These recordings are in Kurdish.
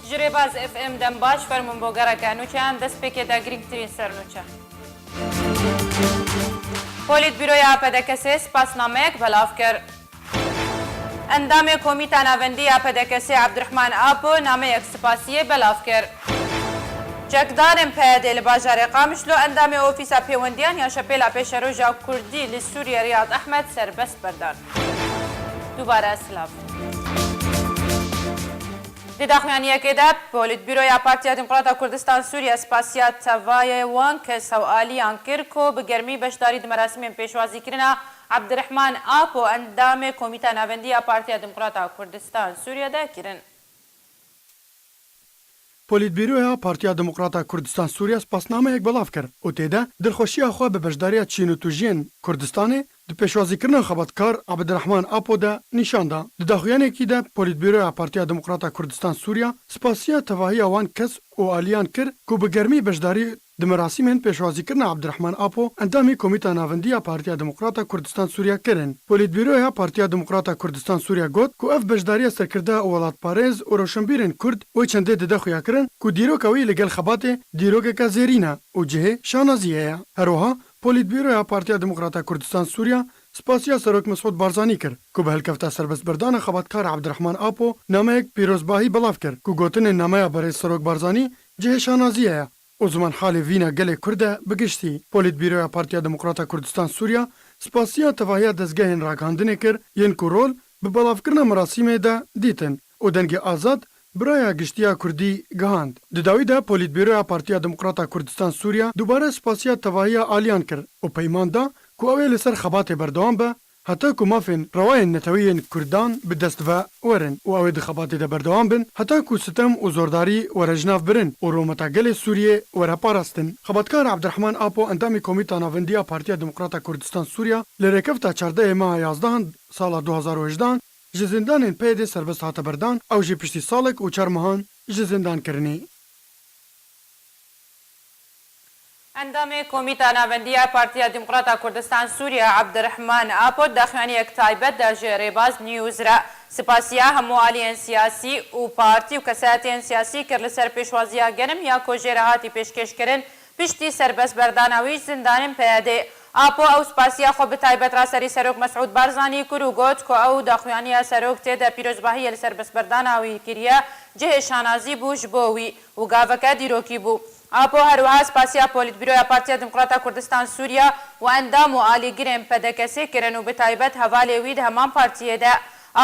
Ji Rêbaz FM dembaş fermûn bo gereke nûçeyan destpêkê de girîngtirîn sernûçe. Polîtbîroya PDKS'ê spasnameyek belav kir. Endamê Komîta Navendî ya PDK'sê Abdurehman Apo nameyek spasiyê belav kir. Çekdarên PYD'ê li bajarê Qamişlo endamê Ofîsa Pêwendiyan ya Şepêla Pêşeroja Kurdî li Sûriyê Riyad Ehmed serbest berdan. Dubare silav. Di daxuyaniyekê de Polîtbîroya Partiya Dîmqrata Kurdistan Sûriye spasiya tevayê wan kes hew aliyan kir ku bi germî beşdarî di merasimên pêşwazîkirina Abdirehman Apo endamê Komîta Navendî ya Partiya Demokrat a Kurdistan, Sûriye de kirin. Polîtbîroya Partiya Demokrat a Kurdistan, Sûriye spasnameyek belav kir û tê de dilxweşiya xwe bi beşdariya çîn û tûjiyên Kurdistanê di pêşwazîkirina xebatkar Abdirehman Apo de nîşan da. Di daxuyanekî de Polîtbîroya Partiya Demokrat a Kurdistan, Sûriye spasiya tevahiya wan kes û aliyan kir ku bi germî beşdarî Di merasîmên pêşwazîkirina Abdirehman Apo, endamê Komîta Navendî ya Partiya Demokrata Kurdistan Sûriya kirin. Polîtbîroya Partiya Demokrata Kurdistan Sûriya got ku ev beşdariya serkirdeya û welatparêz û rewşenbîrên Kurd wê çendê dide xuyakirin ku dîroka wî li gel xebatê dîrokeke zêrîn e û cihê şanaziyê ye. Herwiha Polîtbîroya Partiya Demokrata Kurdistan Sûriya spasiya Serok Mesûd Barzanî kir ku bi hilkefta serbestberdana xebatkar Abdirehman Apo nameyek pîrozbahî belav kir ku gotinên nameya Berêz Serok Barzanî Cihê şanazî heye. O ziman halê vîna gelê Kurd e bi giştî. Polîtbîroya Partiya Demokrata Kurdistan Sûriya spasiya tevahiya dezgehên ragihandinê kir yên ku rol bi belavkirina merasîmê de dîtin û dengê azad bi raya giştiya Kurdî gihand. Di dawî de Polîtbîroya Partiya Demokrata Kurdistan Sûriya dubare spasiya tevahiya aliyan kir û peyman da ku ew ê li ser xebatê berdewam be Heta ku mafên rewa yên neteweyên Kurdan bi dest ve werin û ew ê di xebatê de berdewam bin, heta ku sitem û zordarî were ji nav birin û rometa gelê Sûriyê were parastin. Xebatkar Abdirehman Apo endamê Komîta Navendî ya Partiya Demokrata Kurdistan Sûriya li rêkefta çardehê meha yazdehan sala du hezar û hejdehan ji zindanên PYDê serbest hate berdan, ew jî piştî salek û çar mehan ji zindan kirinê. Endamê Komîta Navendî ya Partiya Demokrata Kurdistan Sûriye Abdirehman Apo di daxuyaniyek taybet de ji Rêbaz News re sipasiya hemû aliyên siyasî û partî û kesayetiyên siyasî kir li ser pêşwaziya genim ya ku jê re hatî pêşkêşkirin piştî serbestberdana wî ji zindanên PYDê. Apo ew sipasiya xwe bi taybet ra serî Serok Mesûd Barzanî kir û got ku ew daxuyaniya serok tê de pîrozbahiyê li serbestberdana wî kiriye cihê şanazî bû ji bo wî. û gaveke dîrokî bû. Apo her wiha spasiya Polîtbîroya Partiya Demokrata Kurdistan Sûriya û endam û alîgirên PDKSê kirin û bi taybet hevalê wî di heman partiyê de.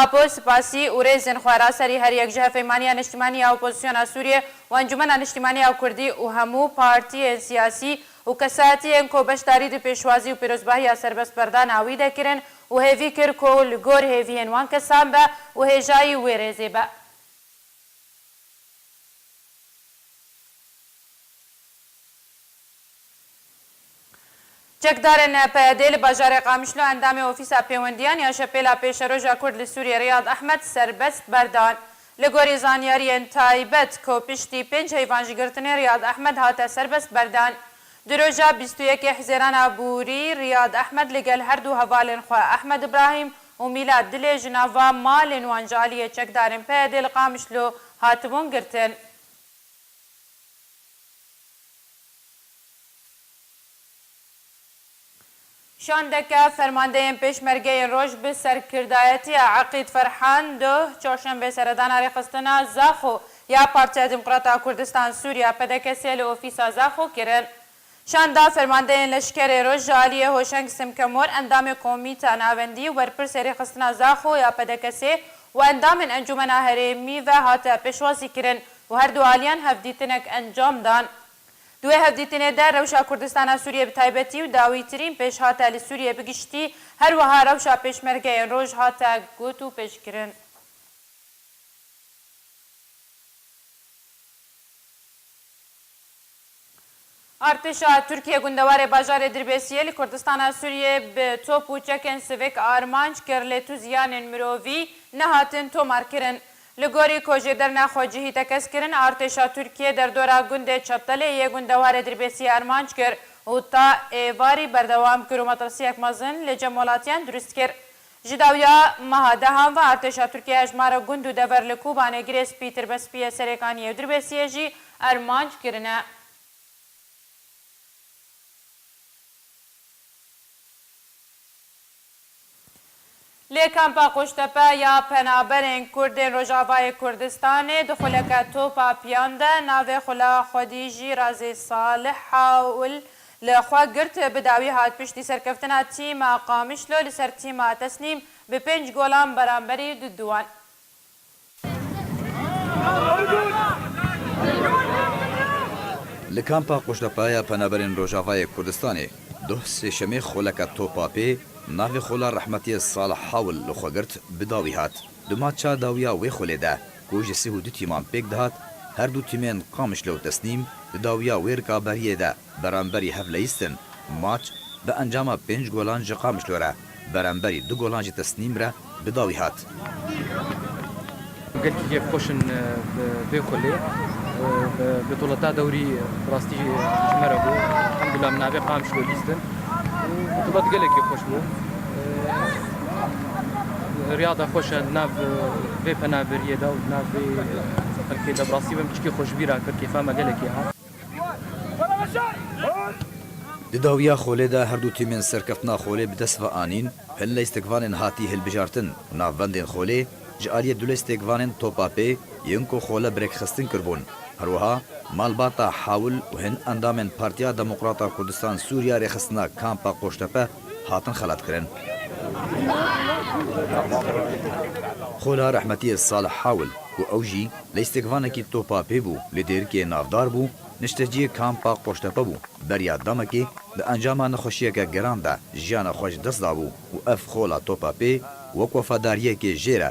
Apo spasî û rêzên xwe ra serî her yek ji Hevpeymaniya Niştimanî ya Opozisyona Sûriyê û Encûmena Niştimanî ya Kurdî û hemû partiyên siyasî û kesayetiyên ku beşdarî di pêşwazî û pîrozbahiya serbestberdana wî de kirin û hêvî kir ku li gor hêviyên wan kesan be û hêjayî wê rêzê be. Çekdarên PYD'ê li bajarê Qamişlo endamê Ofîsa Pêwendiyan ya Şepêla Pêşeroja Kurd li Sûriyê Riyad Ehmed serbest berdan. Li gorî zanyariyên taybet ku piştî pênc heyvan ji girtinê Riyad Ehmed hate serbest berdan. Di roja bîst û yekê Hizêrana borî Riyad Ehmed li gel her du hevalên xwe Ehmed Ibrahîm û mîla dilê ji nava malên wan ji aliyê çekdarên PYD'ê li Qamişlo hatibûn girtin. Şandeke fermandeyên Pêşmergeyên Roj bi serkirdayetiya Eqîd Ferhan duh Çarşembê seredana rêxistina Zaxo ya Partiya Demokrat a Kurdistan Sûriya, PDKS'ê li ofîsa Zaxo kirin. Şanda Fermandeyên Leşkerê Roj ji aliyê Hoşeng Simkemor endamê Komîta Navendî û Berpirsê Rêxistina Zaxo ya PDKS'ê û endamên Encûmena Herêmî ve hate pêşwazîkirin û her du aliyan hevdîtinek encam dan. Di wê hevdîtinê de rewşa Kurdistana Sûriyê bi taybetî û dawîtirîn pêşhate li Sûriyê bi giştî her wiha rewşa Pêşmergeyên Roj hate got û pêşkirin. Artêşa Tirkiyê gundewarê bajarê Dirbêsiyê li Kurdistana Sûriyê bi top û çekên sivik armanc kir lê tu ziyanên mirovî nehatin tomarkirin. Li gorî ku jê derna xwe cihî tekez kirin, artêşa Tirkiyê derdora gundê Çetelê yê gundewarê Dirbêsiyê armanc kir û ta êvarî berdewam kir û metirsiyek mezin li cem welatiyan dirust kir. Ji dawiya meha dehan ve artêşa Tirkiyê hejmara gund û dever li Kobanê girê spîtir be spîyê serêkan Yewdirbesiyê jî armanc kirine. Li kampa Qoştepe ya penaberên kurd ên Rojavayê Kurdistanê di xuleke topa piyan de navê xula xwedî jî Razî Salih Hawl Li xwe girt bi dawî hat piştî serkeftina tîma Qamişlo li ser tîma Tesnîm bi pênc golan beramberî du du wan. Li Kampa Qoşlepaya Penaberên Rojavayê Kurdistanê doh sêşemê xoleke topa pê navê xola rehmetiyê Salih Hawl li xwe girt bi dawî hat. Duma ça dawiya wê xolê de. Ku ji sih û du tîman pêk dihat, her du tîmên Qamişlo û Tesnîm di dawiya wê rikaberiyê de beramberî hev leyistin, maç bi encama pênc golan ji Qamişlo re beramberî du golan ji Tesnîm re bi dawî hat. Gelkî kêf xweş in bi vê xulê. Bi duleta dewrî bi rastî ji me re bû. Elhamdulillah min navê Qamişlo lîstin û bi dulet gelekî xweş bû. Riyada xweş e nav vê penaberiyê de û nav vê xelkê de. Bi rastî me çikê xweşbîra kir, kêfa me gelekî hat. Di dawiya xolê de her du tîmên serkeftina xolê bi dest ve anîn, hin lîstikvanên hatî hilbijartin û navbendên xolê ji aliyê du lîstikvanên topa pê yên ku xole bi rêkxistin kiribûn, her wiha malbata Hawil û hin endamên Partiya Demokrata Kurdistan Sûriya rêxistina Kampa Qoştepe hatin xelatkirin. Xola rehmetiyê Salih Hawil ku ew jî lîstikvanekî topa pê bû li Dêrikê navdar bû, nişteciyê kampa Qoştepe bû, beriya demekê di encama nexweşiyeke giran de jiyana xwe ji dest dabû û ev xola topa pê wek wefadariyekê jêre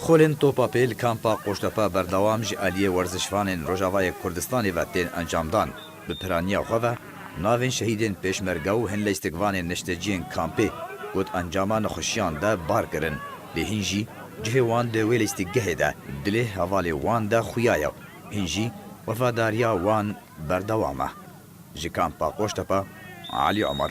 Xulên topa pê li Kampa Qoştepe berdewam ji aliyê werzişvanên Rojavayê Kurdistanê ve tên encamdan. Bi piraniya xwe ve navên şehîdên Pêşmerge û hin leystikvanên neşteciyên kampê ku di encama nexweşiyan de bar kirin lê hîn jî cihê wan di wê leystikgehê de dilê hevalê wan de xuya ye û hîn jî wefadariya wan berdewam e. Ji Kampa Qoştepe, Elî Omer.